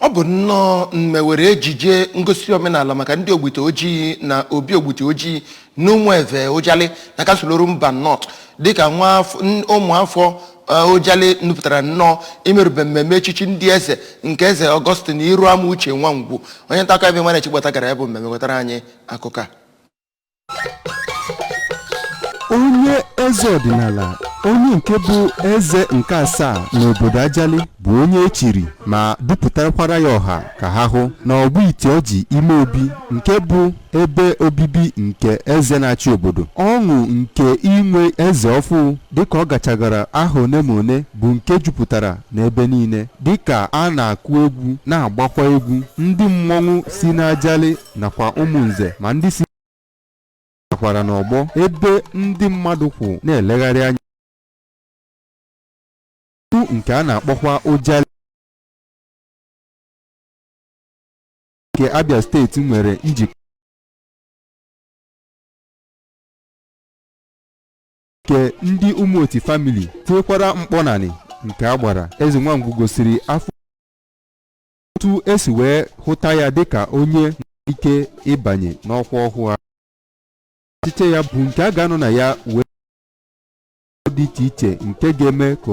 Ọ bụ nnọọ mmewere ejije ngosi omenala maka ndị Ogbiti Oji na obi Ogbiti Oji n'Ụmụeve Ujali na Kansụl Orumba North dịka nwa afọ- n- ụmụafọ eh, Ujali nupụtara nnọọ imerube mmemme echichi ndị eze nke eze Ọgọstin Iruama Uche Nwangwu onye nta akụkọ Emmanuel Chigbata gara ya bụ mmemme wetara anyị akụkọ a onye eze ọdịnala onye nke bụ eze nke asaa n'obodo ajali bụ onye echiri ma dupụtakwara ya ọha ka ha hụ na Ogbiti Oji ime obi nke bụ ebe obibi nke eze na-achị obodo ọṅụ nke inwe eze ọfụ dịka ọ gachagara aha one ma one bụ nke jupụtara n'ebe niile dịka a na-akụ egwu na-agbakwa egwu ndị mmọnwụ si n'ajali nakwa Ụmụnze ma ndị si nakwara n'ọgbọ ebe ndị mmadụ kwụ na-elegharị anya tupu nke a na-akpọkwa Ujali nke Abia steeti nwere njikọ nke ndị ụmụoti famili tinyekwara mkpọnanị nke a gbara eze nwangwu gosiri afọ otu esi wee hụta ya dịka onye ike ịbanye n'ọkwa ọhụụ a ọchịchị ya bụ nke a ga-anọ na ya wee dị iche iche nke ga-eme ka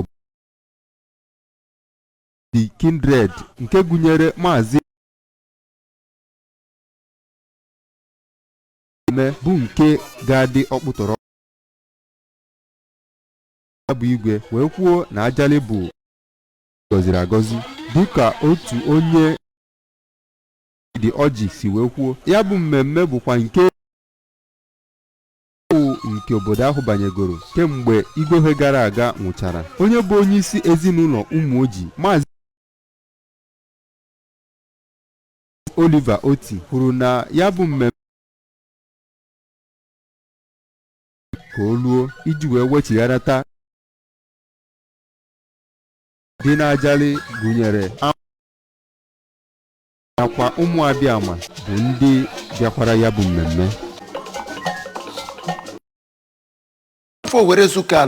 the kindred nke gụnyere maazị eme bụ nke ga-adị ọkpụtọrọ ya bụ igwe wee kwuo na ajali bụ gọziri agọzi dịka otu onye ndị Oji si wee kwuo ya bụ mmemme bụkwa nke ọṅụ nke obodo ahụ banyegoro kemgbe Igwe gara aga nwụchara onye bụ onye isi ezinụlọ ụmụ Oji maazị Oliver Oti kwuru na ya bụ mmemme ka o luo iji wee wechigharata dị n'Ajali gụnyere nakwa Ụmụabịama bụ ndị bịakwara ya bụ mmemme afọ were zuka ala